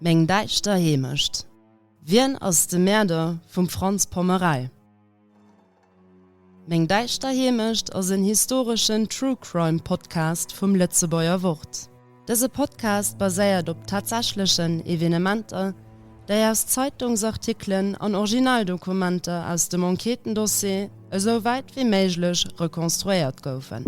Meng däischter Heemecht. Wien ass de Mäerder vum Franz Pommerell? Meng däischter Heemecht ass en historeschen True Crime Podcast vum Lëtzebuerger Wort. Dëse Podcast baséiert op tatsächlechen Evenementer, déi aus Zeitungsartikelen an Originaldokumenter aus dem Enquêtendossier esou wäit wéi méiglech rekonstruéiert goufen.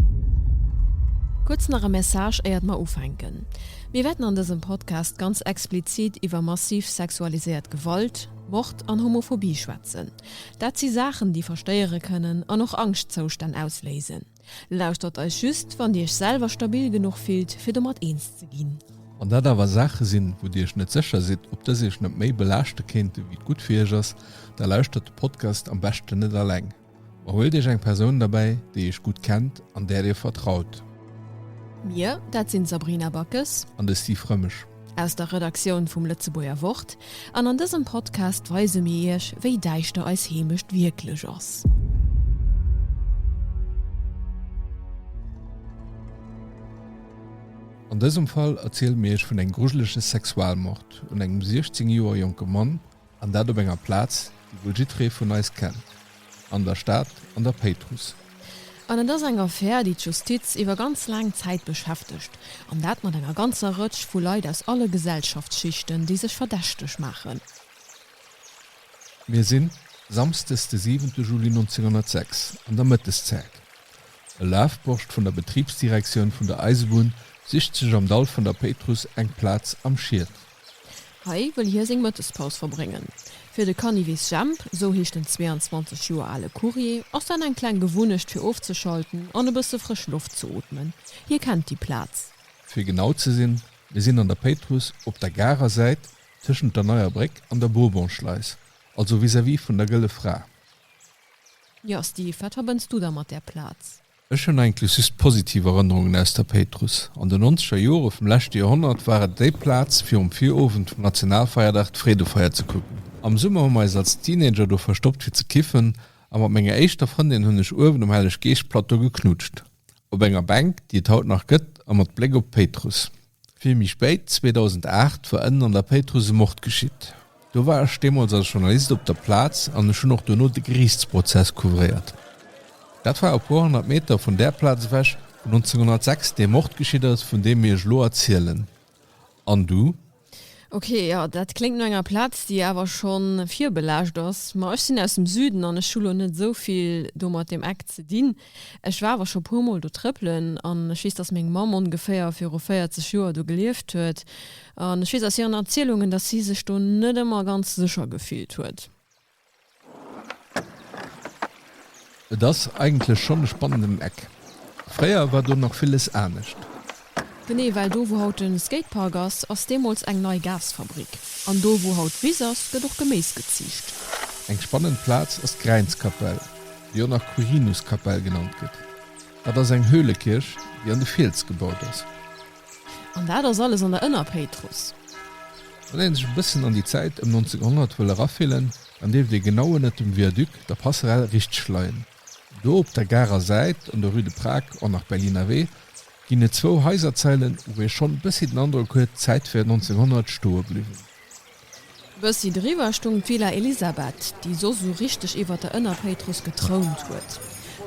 Kuerz nach e Message éiert mer ufänken. Mir wäerten an dësem Podcast ganz explizit iwwer massiv sexualiséiert Gewalt, Mord an Homophobie schwätzen. Dat si Saachen, déi verstéiere kënnen an och Angschtzoustänn ausléisen. Lauschtert eis just, wann Dir Iech selwer stabil genuch fillt, fir domat eens ze ginn. Wann dat awer Saache sinn, wou Dir Iech net sécher sidd, ob dës Iech net méi belaaschte kéinte wéi et gutt fir Iech ass, da lauschtert de Podcast am beschten net alleng, ma huelt Iech eng Persoun derbäi, déi Iech gutt kennt an där Dir vertraut. Mir, dat sinn d'Sabrina Backes. An de Steve Rëmesch. Aus der Redaktioun vum Lëtzebuerger Wort an an dësem Podcast weise mir Iech, wéi däischter eis Heemecht wierklech ass. An dësem Fall erziele mir Iech vun engem grujelege Sexualmord un engem 16 Joer jonke Mann, An dat op enger Plaz, déi wuel jiddree vun eis kennt, an der Stad, an der Péitruss. An et ass eng Affär, déi d'Justiz iwwer ganz laang Zäit beschäftegt, an dat mat enger ganzer Rëtsch vu Leit aus alle Gesellschaftsschichten, déi sech verdächteg maachen. Mir sinn samsdes de siwente Juli 1906 an der Mëtteszäit. E Lafborscht vun der Betribsdirektioun vun der Eisebunn sicht sech am Dall vun der Péitruss eng Plaz am Schiet, Hei wëll hie seng Mëttespaus verbréngen. Fir de Canivis Jhemp, esou heescht den 22 Joer ale Courrier, ass dat eng kleng Gewunnecht fir ofzeschalten an e bësse frësch Loft ze ootmen. Hie kennt déi Plaz. Fir genau ze sinn, mir sinn an der Péitruss op der Garer Säit tëschent der Neier Bréck an der Bourbonschleis, also vis-à-vis vun der Gëlle Fra. Jo Steve, wat verbënns du da mat där Plaz? Ech hunn eigentlech just positiv Erënnerungen aus der Péitruss. An de nonzeger Jore vum leschte Joerhonnert war et déi Plaz, fir um Virowend vum Nationalfeierdag d'Freedefeier ze kucken. Am Summer hu mer eis als Teenager do verstoppt fir ze kiffen a mat menger éischter Frëndin hunn ech uewen um Helleg-Geescht-Plateau geknutscht, op enger Bänk, déi et haut nach gëtt a mat Bléck op d'Péitruss. Vill méi spéit, 2008, war ënnen an der Péitruss e Mord geschitt. Do war ech deemools als Journalist op der Plaz an ech hunn och dono de Geriichtsprozess couvréiert. Dat war e puer honnert Meter vun där Plaz ewech, wou 1906 dee Mord geschitt ass, vun deem mir ech elo erzielen. An du? Ok, jo, dat kléngt no enger Plaz, déi awer scho virbelaascht ass. Ma ech sinn aus dem Süden an ech hu lo net esou vill do mat deem Eck ze dinn. Ech war awer scho puer mol do trëppelen an ech weess, dass meng Mamm ongeféier viru 40 Joer do gelieft huet an ech weess aus hiren Erzielungen, dass si sech do net ëmmer ganz sécher gefillt huet. Et ass eigentlech schonn e spannenden Eck. Fréier war do nach villes anescht. Genee, well do wou haut den Skatepark ass, ass deemols eng nei Gasfabrik. An do wou haut d'Wiss ass, gëtt och Geméis geziicht. Eng spannend Plaz ass d'Gräinskapell, déi och nach Quirinuskapell genannt gëtt. Dat ass eng Höhlekierch, déi an de Fiels gebaut ass. An dat ass alles an der Ënnerpéitrus. Wann een sech e bëssen an déi Zäit ëm 1900 wëll erafillen, dann dierft ee genau ënnert dem Viaduc, der Passerelle, richteg leien. Do op der Garer Säit an der Rue de Prag an nach Berliner Wee ginn et zwou Haiserzeilen, wou ee schonn e bëssi den Androck huet, d'Zäit wär 1900 stoe bliwwen. E bëssi driwwer stoung d'Villa Elisabeth, déi soss esou richteg iwwer der Ënnerpéitrus getrount huet.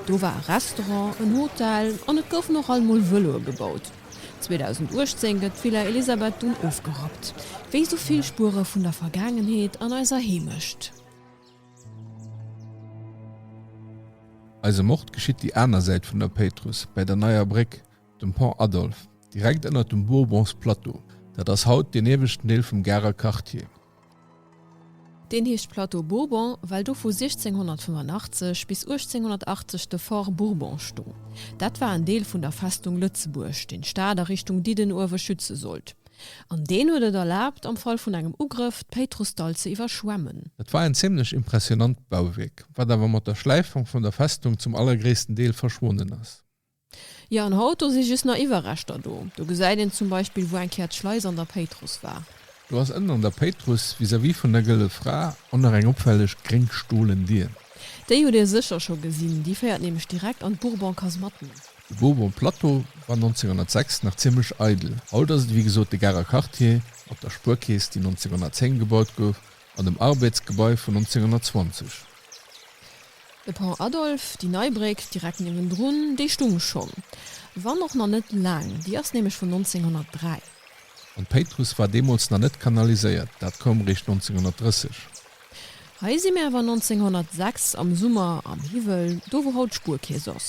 Do war e Restaurant, en Hotel an et goufen och alt mol Vëloe gebaut. 2018 gëtt d'Villa Elisabeth dunn ofgerappt, wéi esou vill Spuere vun der Vergaangenheet an eiser Heemecht. Eise Mord geschitt déi aner Säit vun der Péitruss, bäi der Neier Bréck, dem Pont Adolphe, direkt ënnert dem Bourbons Plateau. Dat ass haut deen ieweschten Deel vum Garer Quartier. Deen heescht Plateau Bourbon, well do vu 1685 bis 1880 de Fort Bourbon stoung. Dat war en Deel vun der Festung Lëtzebuerg, deen d'Stad a Richtung Diddenuewe schütze sollt. An deen huet et erlaabt, am Fall vun engem Ugrëff, d'Péitrussdall ze iwwerschwemmen. Dat war en zimmlech impressionant Bauwierk, wat awer mat der Schläifung vun der Festung zum allergréissten Deel verschwonnen ass. Jo, an haut, do si just nach Iwwerreschter do. Do gesäit een zum Beispill, wou eng Kéier d'Schleis an der Péitruss war. Do ass ënnen an der Péitruss, vis-à-vis vun der Gëlle Fra, och nach eng opfälleg gréng stolen Dier. Déi hutt Dir sécher scho gesinn, déi féiert nämlech direkt an d'Bourbon-Kasematten. De Vauban Plateau war 1906 nach zimmlech eidel, haut ass et wéi gesot de Garer Quartier mat der Spuerkeess, déi 1910 gebaut gouf, an dem ARBED Gebai vun 1920. De Pont Adolphe, déi nei Bréck direkt niewendrun, déi stung schonn, wann och nach net laang, déi ass nämlech vun 1903. An d'Péitruss war deemools nach net kanaliséiert, dat koum réischt 1930. Hei si mir awer 1906 am Summer am Hiwwel, do wou haut d'Spuerkeess ass.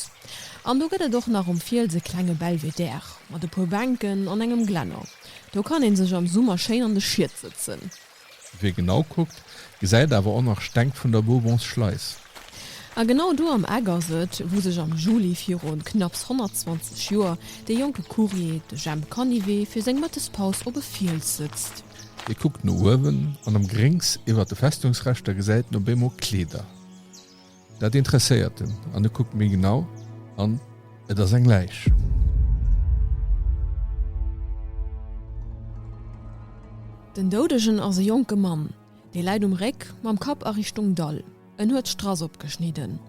An do gëtt et och nach um Fiels e klenge Belvédère mat e puer Bänken an engem Glänner. Do kann ee sech am Summer schéin an de Schied sëtzen. Wie genau kuckt, gesäit awer och nach Steng vun der Bourbonsschleis. A genau do am Eck ass et, wou sech am Juli virun knapps 120 Joer dee jonke Courrier, de Jemp Canivet, fir seng Mëttespaus op e Fiels sëtzt. Hie kuckt no uewen an am Gréngs iwwer de Festungsrescht a gesäit no Beemo Kleeder. Dat interesséiert en an e kuckt méi genau an et ass eng Läich. Den Doudegen ass e jonke Mann. Dee läit um Réck, mam Kapp a Richtung Dall. En huet Strass opgeschnidden.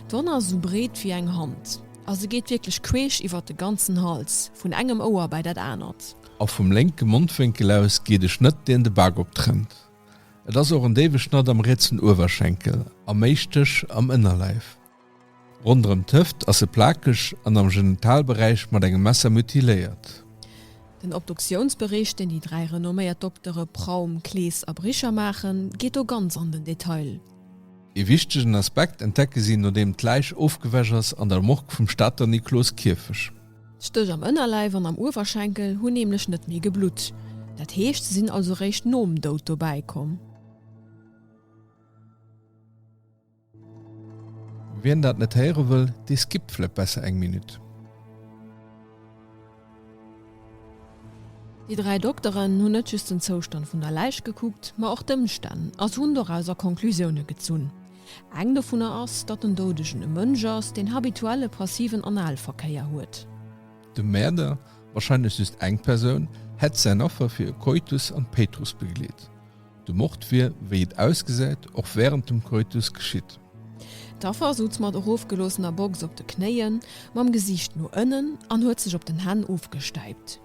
D'Wonn ass esou breet wéi eng Hand a se geet wierklech queesch iwwert de ganzen Hals, vun engem Ouer bäi dat anert. A vum lénke Mondwénkel aus geet e Schnëtt, deen de Bak optrennt. Et ass och en déiwe Schnatt am rietsen Uewerschenkel a méi Stéch am Ënnerleif. Ronderëm d'Hëft ass se plakeg an am Genitalberäich mat engem Messer mutiléiert. Den Obduktiounsbericht, deen déi dräi renomméiert Doktere Praum, Klees a Bricher maachen, geet do ganz an den Detail. Ee wichtegen Aspekt entdecke si, nodeem d'Läich ofgewäsch ass, an der Morgue vum Stater Nikloskierfech. D'Stëch am Ënnerleif an am Uewerschenkel hunn nämlech net méi geblutt. Dat heescht, se sinn also réischt nom Doud dobäi komm. Wien dat net héiere wëll, dee skippt vläit besser eng Minutt. Déi dräi Dokteren hunn net just den Zoustand vun der Läich gekuckt, ma och d'Ëmstänn a se hunn dorauser Conclusioune gezunn. Eng dovunner ass, datt den Doudegen e Mënsch ass, deen habituell e passiven Analverkéier huet. De Mäerder, warscheinlech just eng Persoun, hätt säin Affer fir e Koitus an d'Péitrus begleet. De Mord wier, wéi et ausgesäit, och wärend dem Koitus geschitt. D'Affer souz mat erofgeloossener Box op de Knéien, mam Gesiicht no ënnen an huet sech op den Hänn ofgestäipt.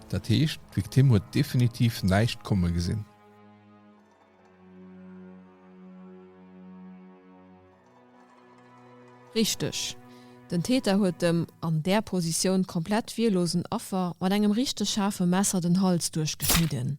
Dat heescht, d'Victime huet definitiv näischt komme gesinn. Richteg. Den Täter huet dem an där Positioun komplett wierlosen Affer mat engem richteg schaarfe Messer den Hals duerchgeschnidden.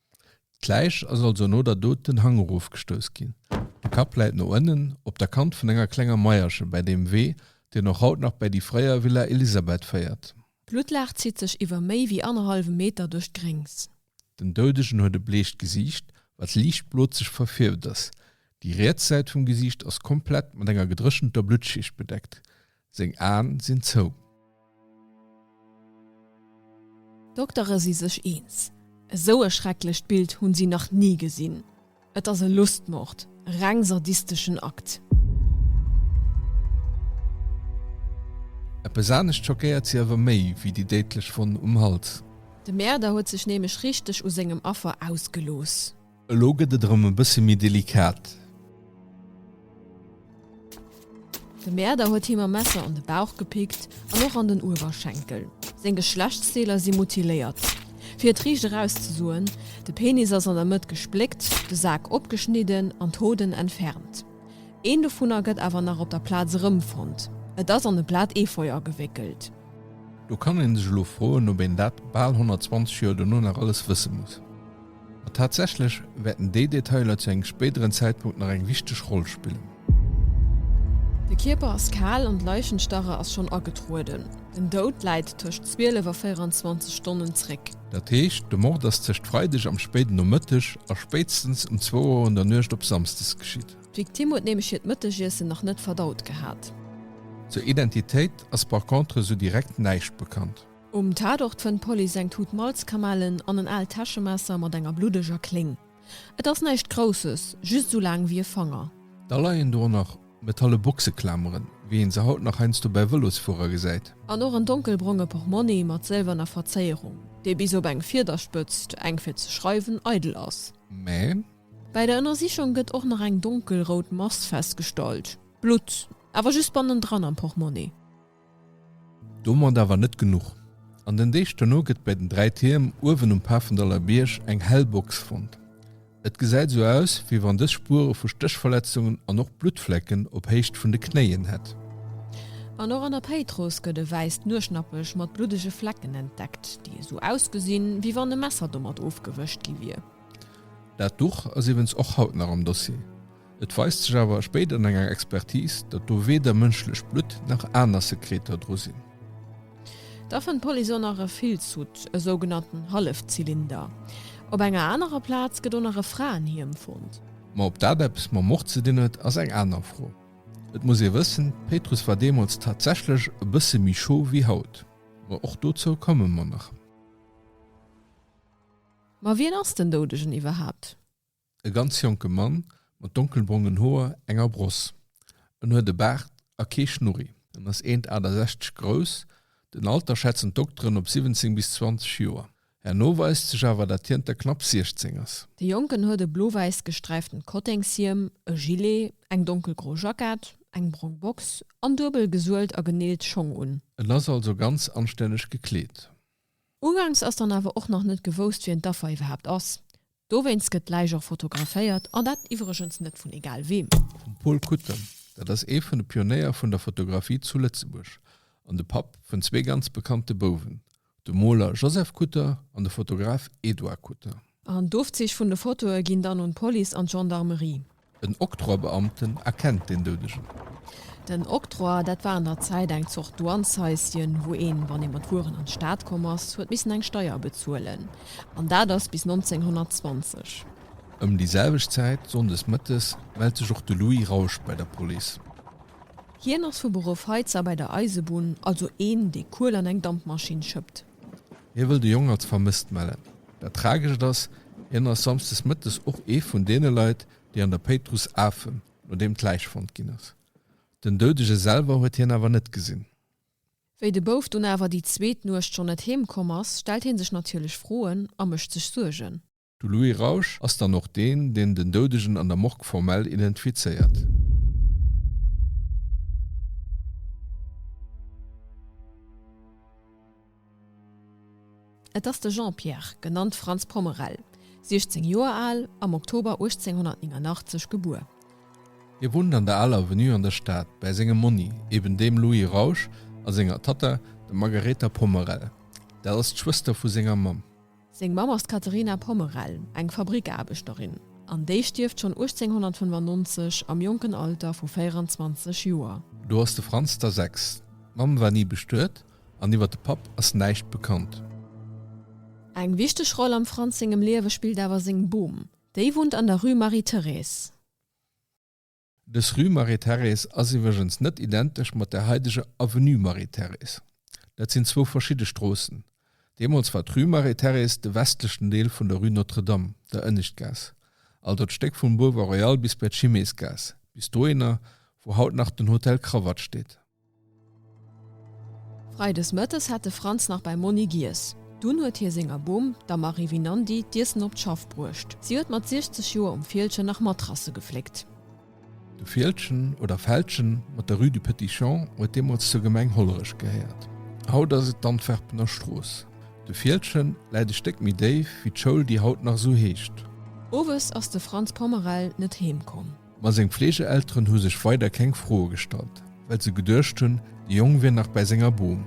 D'Läich ass also no der Dot den Hang erof gestouss ginn. De Kapp läit no ënnen op der Kant vun enger klenger Maierche bäi deem Wee, deen och haut nach bäi déi fréier Villa Elisabeth féiert. D'Blutlaach zitt sech iwwer méi wéi annerhallwe Meter duerch d'Gréngs. Den Doudegen huet e bleecht Gesiicht, wat liicht blozeg verfierft ass. Déi riets Säit vum Gesiicht ass komplett mat enger gedréchenter Bluttschicht bedeckt. Seng Aen sinn zou. D'Doktere si sech eens, Esou e schrecklecht Bild hunn si nach ni gesinn. Et ass e Lustmord, e reng sadisteschen Akt. Eppes anescht schockéiert si awer méi wéi déi déidlech Wonn um Hals. De Mäerder huet sech nämlech richteg u sengem Affer ausgelooss. Elo gëtt et erëm e bësse méi delikat. De Mäerder huet him mam Messer an de Bauch gepickt an och an den Uewerschenkel. Seng Geschlechtsdeeler si mutiléiert. Fir et riicht erauszesoen, De Penis ass an der Mëtt gespléckt, de Sak opgeschnidden an d'Hoden entfernt. Een dovunner gëtt awer nach op der Plaz erëmfonnt. Et ass an e Blat Efeu agewéckelt. Do kann ee sech elo froen, ob een dat bal 120 Joer dono nach alles wësse muss. Tatsächlech wäerten déi Detailer zu engem spéideren Zäitpunkt nach eng wichteg Roll spillen. De Kierper ass kal an d'Leichenstarre ass schonn agetrueden. Den Doud läit tëscht 12 a 24 Stonnen zréck. Dat heescht, de Mord ass tëscht Freideg am spéiden Nomëtteg a spéitstens um zwou Auer un der Nuecht op Samsdes geschitt. D'Victime huet nämlech hiert Mëttegiessen nach net verdaut gehat. Zur Identitéit ass par contre sou direkt näischt bekannt. Um Tatort fënnt d'Police eng Tut Malzkamellen an en aalt Täschemesser mat enger bluddeger Kléng. Et ass näischt Grousses, just esou laang wéi e Fanger. Da leien do och nach metalle Boxeklameren, wéi een se haut nach heiansdo bäi Vëlosfuerer gesäit. An och en donkelbronge Portmonni mat sëlwerner Verzéierung, dee bis op eng Fiederspëtzt, eng fir ze schreiwen, eidel ass. Mä. Bäi der Ënnersichung gëtt och nach eng donkelrout Mass festgestallt. Blutt, awer just bannendran am Portmonni. Domat awer net genuch. An den Deeg dono gëtt bei den Dräi Tierm uewen um Pafendaller Bierg eng hell Box fonnt. Et gesäit esou aus, wéi wann dës Spuere vu Stéchverletzungen an och Bluttflecken op Héicht vun de Knéien hätt. An och an der Péitruss gëtt e wäisst Nueschnappech mat bluddege Flecken entdeckt, déi esou ausgesinn, wéi wann e Messer domat ofgewëscht gi wier. Dat Duch ass iwwens och haut nach am Dossier. Et weist sech awer spéider an enger Expertis, datt do weder mënschlecht Blutt nach aner Sekreter dru sinn. Da fënnt d'Police och nach e Filzhutt, e sougenannten Hallefzylinder. Op enger anerer Plaz gëtt och nach e Fraenhiem fonnt. Ma ob dat eppes mam Mord ze dinn huet, ass eng aner Fro. Et muss ee wëssen, d'Péitruss war deemools tatsächlech e bësse méi scho wéi haut. Ma och dozou komme mer nach. Ma wien ass den Doudegen iwwerhaapt? E ganz jonke Mann mat donkelbrongen Hoer, enger Bross. En huet e Baart a kee Schnurri. En ass eent 68 grouss. Den Alter schätzen d'Dokteren op 17 bis 20 Joer. Herno weist sech awer, dat hien der knapp 16 ass. De Jonken huet e blo-wäiss gesträiften Kotténgshiem, e Gilet, eng donkelgro Jackett, eng brong Box an duebel gesuelt a geneelt Schong un. En ass also ganz anstänneg gekleet. Uganks ass dann awer och nach net gewousst, wien d'Affer iwwerhaapt ass. Dowéinst gëtt d'Läich och fotograféiert, an dat iwwregens net vun egal weem. Vum Paul Kutten. Dat ass ee vun de Pionéier vun der Fotografie zu Lëtzebuerg an de Papp vun zwee ganz bekannte Bouwen, dem Moler Joseph Kutter an de Fotograf Edouard Kutter. An d'Ofzeech vun de Fotoe ginn dann un d'Police an d'Gendarmerie. En Octroi-Beamten erkennt den Doudegen. Den Octroi, dat war an der Zäit eng Zort Douanshaisschen, wou een, wann ee mat Wueren an d'Stad komm ass, huet missen eng Steier bezuelen. An dat ass bis 1920. Ëm déi selwecht Zäit, sonndes mëttes, mellt sech och de Louis Rausch bei der Police. Hien ass vu Beruff Heizer bei der Eisebunn, also een, dee Kuel an eng Dampmaschinn schëppt. Hie wëll de Jong als vermësst mellen. Dat Tragescht ass, hien ass samsdes mëttes och ee vun deene Leit, déi an der Péitruss afen, nodeem d'Läich fonnt ginn ass. Den Doudege selwer huet hien awer net gesinn. Wéi de Bouf dunn awer déi zweet Nuecht schonn net heemkomm ass, stellt hie sech natierlech Froen a mécht sech Suergen. De Louis Rausch ass dann och deen, deen den Doudegen an der Morgue formell identifizéiert. Et ass de Jean-Pierre, genannt Franz Pommerel, 16 Joer al, am Oktober 1889 gebuer. Hie wunnt an der Aler Avenue an der Stad, bäi sengem Monni, eben deem Louis Rausch, a senger Tatta, der Margaretha Pommerel, dat ass d'Schwëster vu senger Mamm. Seng Mamm ass d'Katerina Pommerell, eng Fabrikaarbechterin, an déi stierft schonn 1895 am jonken Alter vu 24 Joer. Do ass de Franz da sechs. D'Mamm war ni bestuet an iwwer de Papp ass näischt bekannt. Eng wichteg Roll am Franz sengem Liewe spillt awer seng Bom. Déi wunnt an der Rue Marie-Thérèse. Dës Rue Marie-Thérèse ass iwwregens net identesch mat der haideger Avenue Marie-Thérèse. Dat sinn zwou verschidde Stroossen. Deemools war d'Rue Marie-Thérèse de westlechen Deel vun der Rue Notre-Dame, der Ënneschtgaass, also d'Stéck vum Boulevard Royal bis bei d'Chimésgaass, bis dohinner, wou haut nach den Hotel Cravatte steet. Freides Mëttes hat de Franz nach beim Monni giess. Dunn huet hie senger Bom, der Marie Vinandi, d'Iessen op d'Schaff bruecht. Si huet mat 60 Joer um Fieldgen nach Matrasse gefléckt. De Fieldgen, oder Feldgen, mat der Rue du Petit Champ huet deemools zur Gemeng Hollerech gehéiert. Haut ass et d'Antwerpener Strooss. De Fieldgen läit e Stéck méi déif wéi d'Schoul, déi haut nach esou heescht. Owes ass de Franz Pommerel net heem komm. Ma seng Fleegeelteren hu sech weider keng Froe gestallt, well se geduecht hunn, de Jong wier nach bäi senger Bom.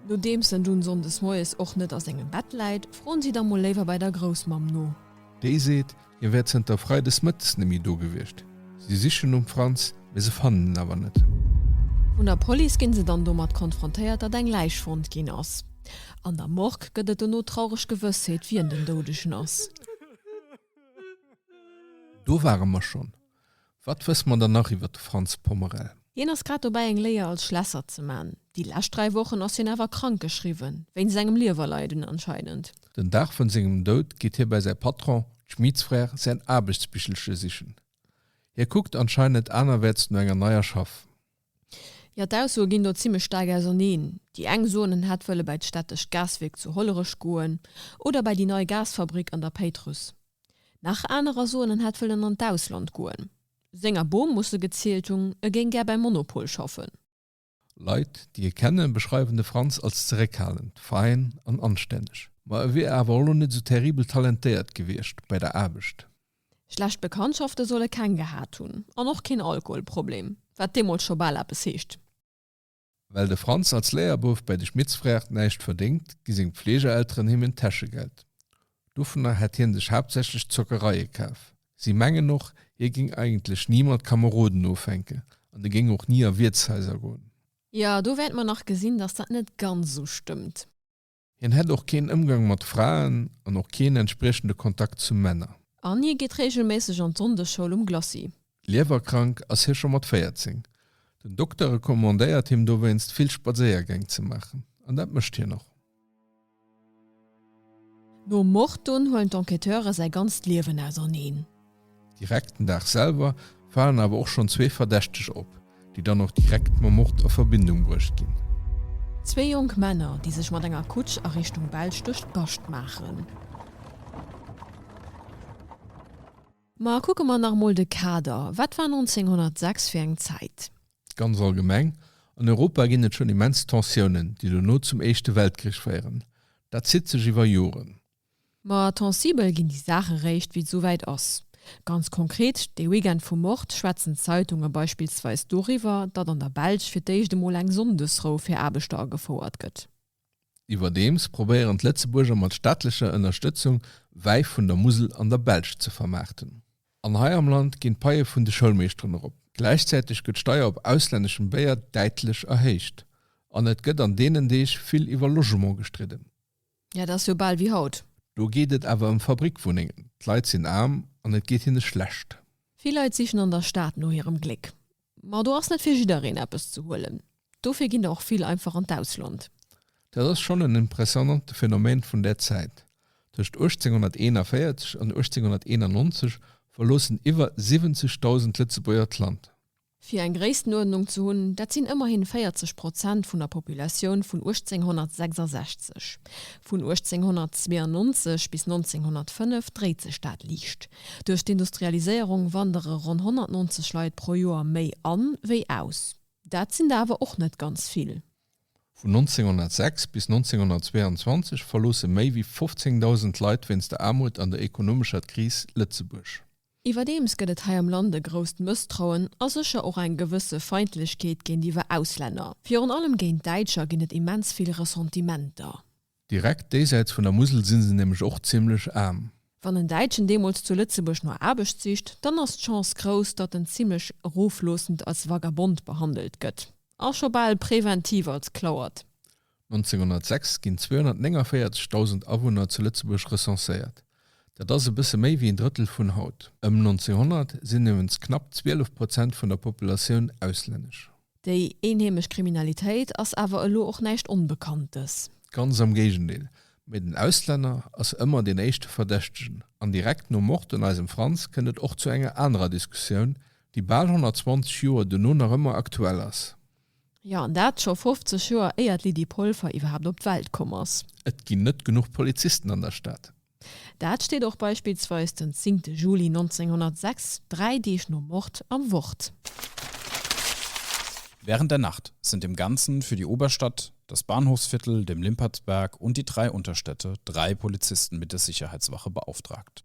Nodeems en dunn sonndes moies och net a sengem Bett läit, froen si da mol léiwer bei der Groussmamm no. Déi seet, hie wär zënter freides mëttes net méi do gewiescht. Si sichen nom Franz, mee se fannen en awer net. Vun der Police ginn se dann domat konfrontéiert, datt eng Läich fonnt ginn ass. An der Morgue gëtt et dono traureg Gewëssheet, wien den Doudegen ass. Do ware mer schonn. Wat wësse mer dann nach iwwert de Franz Pommerel? Hien ass grad dobäi eng Léier als Schlässer ze man. Déi lescht 3 Wochen ass hien awer krank geschriwwen, wéinst engem Liewerleiden anscheinend. Den Dag vun sengem Doud geet hie bei säi Patron, d'Schmieds Frères, säin Aarbechtsbichelche sichen. Hie kuckt anscheinend anerwäerts no enger neier Schaff. Jo, d'Aussoe ginn do zimmlech staark auserneen. Déi eng soen, en hätt wëlle bäi d'städtescht Gaswierk zu Hollerech goen oder bäi déi nei Gasfabrick an der Péitruss. Nach anerer soen, en hätt wëllen an d'Ausland goen. Senger Bom muss e gezielt hunn, e géing gär bäi Monopol schaffen. Leit, déi e kenne, beschreiwen de Franz als zeréckhalend, fein an anstänneg. Ma e wier awer och elo net esou terribel talentéiert gewiescht bäi der Aarbecht. Schlecht Bekanntschafte solle keng gehat hunn an och keen Alkoholproblem, wat deemools scho bal eppes heescht. Well de Franz als Léierbouf bäi de Schmittsfrère näischt verdéngt, gi seng Fleegerelteren him en Täschegeld. Dovunner hätt hie sech haaptsächlech Zockereie kaf. Si mengen och, hie géing eigentlech ni mat Kameroden ofhänken an e géing och ni a Wiertshaiser goen. Jo, do wäert mer nach gesinn, datt dat net ganz esou stëmmt. Hien hätt och keen Ëmgang mat Fraen an och keen entspriechende Kontakt zu Männer. An hie geet reegelméisseg an d'Sonndesschoul um Glacis. Liewerkrank ass hie scho mat 14. Den Dokter recommandéiert him dowéinst vill Spadséiergäng ze maachen. An dat mécht hien och. Nom Mord dunn huelen d'Enquêteure säi ganzt Liewen auserneen. Direkt den Dag selwer falen awer och schonn zwee Verdächteg op, déi dann och direkt mam Mord a Verbindung bruecht ginn. Zwee jonk Männer, déi sech mat enger Kutsch a Richtung Belsch duerch d'Bascht maachen. Ma kucke mer nach emol de Kader, Wat war 1906 fir eng Zäit? Ganz allgemeng an Europa ginn et schonn immens Tensiounen, déi dono zum Éischte Weltkrich féieren. Dat zitt sech iwwer Joren. Ma tensibel ginn déi Saache réischt, wéi et souwäit ass. Ganz konkret, dee Weekend vu Mord schwätzen d'Zeitunge beispillsweis doriwwer, datt an der Belsch fir d'éischt emol eng Sonndesrou fir Aarbechter agefouert gëtt. Iwwerdeems probéieren d'Lëtzebuerger mat staatlecher Ënnerstëtzung Wäi vun der Musel an der Belsch ze vermaarten. An hei am Land ginn d'Paie vun de Schoulmeeschteren erop. Gläichzäiteg gëtt d'Steier op auslänneschem Béier däitlech erhéicht. An et gëtt an deenen Deeg vill iwwer Logement gestridden. Ja, dat ass jo bal wéi haut. Do geet et awer ëm Fabrikwunnengen. D'Leit sinn aarm an et geet hinne schlecht. Vill Leit sichen an der Stad no hirem Gléck. Ma do ass net fir jiddereen eppes ze huelen. Dofir ginn der och vill einfach an d'Ausland. Dat ass schonn en impressionnante Phänomen vun där Zäit. Tëscht 1841 an 1891 verloossen iwwer 70.000 Lëtzebuerger d'Land. Fir eng Gréisstenuerdnung ze hunn, dat sinn ëmmerhin 40 Prozent vun der Populatioun vun 1866. Vun 1892 bis 1905 dréit sech dat liicht. Duerch d'Industrialiséierung wandere ronn 190 Leit pro Joer méi an, wéi aus. Dat sinn der awer och net ganz vill. Vun 1906 bis 1922 verloosse méi wéi 15.000 Leit wéinst der Aarmut an der ekonomescher Kris Lëtzebuerg. Iwwerdeems gëtt et hei am Land e grousst Mësstrauen a sécher och eng gewësse Feindlechkeet géintiwwer Auslänner. Virun allem géint Däitscher ginn et immens vill Ressentimenter. Direkt déisäits vun der Musel si se nämlech och zimmlech aarm. Wann en Däitschen deemools zu Lëtzebuerg no Aarbecht sicht, dann ass d'Chance grouss, datt en zimmlech erofloossend als Vagabond behandelt gëtt a scho bal präventiv als Klauert. 1906 ginn 249.000 Awunner zu Lëtzebuerg recenséiert, dat ass e bësse méi wéi en Drëttel vun haut. Ëm 1900 sinn nirwens knapp 12 Prozent vun der Populatioun auslännesch. Déi eenheemesch Kriminalitéit ass awer elo och näischt Onbekanntes. Ganz am Géigendeel, mee den Auslänner ass ëmmer deen éischte Verdächtegen. An direkt nom Mord un eisem Franz kënnt et och zu enger anerer Diskussioun, déi bal 120 Joer dono nach ëmmer aktuell ass. Jo, an dat scho 50 Joer éier d'Lydie Polfer iwwerhaapt op d'Welt komm ass. Et ginn net genuch Polizisten an der Stad. Dat steet och beispillsweis den zingte Juli 1906, dräi Deeg nom Mord, am Wort. Während der Nacht sind im Ganzen für die Oberstadt, das Bahnhofsviertel, dem Limpertsberg und die drei Unterstädte drei Polizisten mit der Sicherheitswache beauftragt.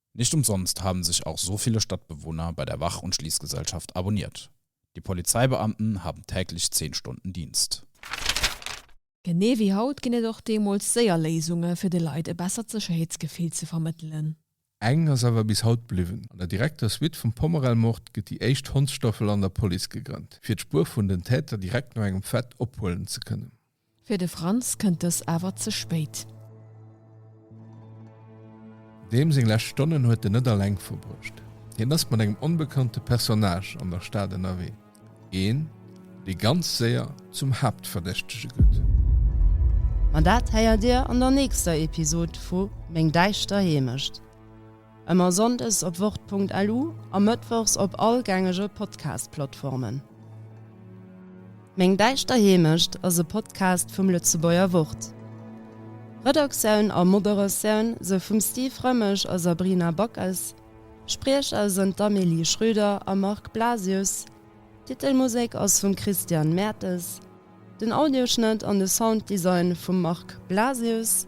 Nicht umsonst haben sich auch so viele Stadtbewohner bei der Wach und Schließgesellschaft abonniert. Die Polizeibeamten haben täglich 10 Stunden Dienst. Genee wéi haut ginn et och deemools séier Léisunge fir de Leit e bessert Sécherheetsgefill ze vermëttelen. Eng ass awer bis haut bliwwen, An der direkter Suite vum Pommerell-Mord gëtt déi éischt Hondsstaffel an der Police gegrënnt, fir d'Spuer vun den Täter direkt no engem Fait ophuelen ze kënnen. Fir de Franz kënnt dës awer ze spéit. Deem seng lescht Stonnen huet en net alleng verbruecht. Hien ass mat engem onbekannte Personnage an der Stad ënnerwee, een, dee ganz séier zum Haaptverdächtege gëtt. Ma dat héiert Dir an der nächster Episod vu Meng däischter Heemecht. Ëmmer sonndes op wort.lu a mëttwochs op all gängege Podcast-Plattformen. Meng däischter Heemecht ass e Podcast vum Lëtzebuerger Wort. Redaktioun a Moderatioun sou vum Steve Rëmmesch a Sabrina Backes, Spriecher sënn d'Amélie Schrüder a Marc Blasius, d'Titelmusek ass vum Christian Mertes, den Audioschnëtt an de Sounddesign vum Marc Blasius,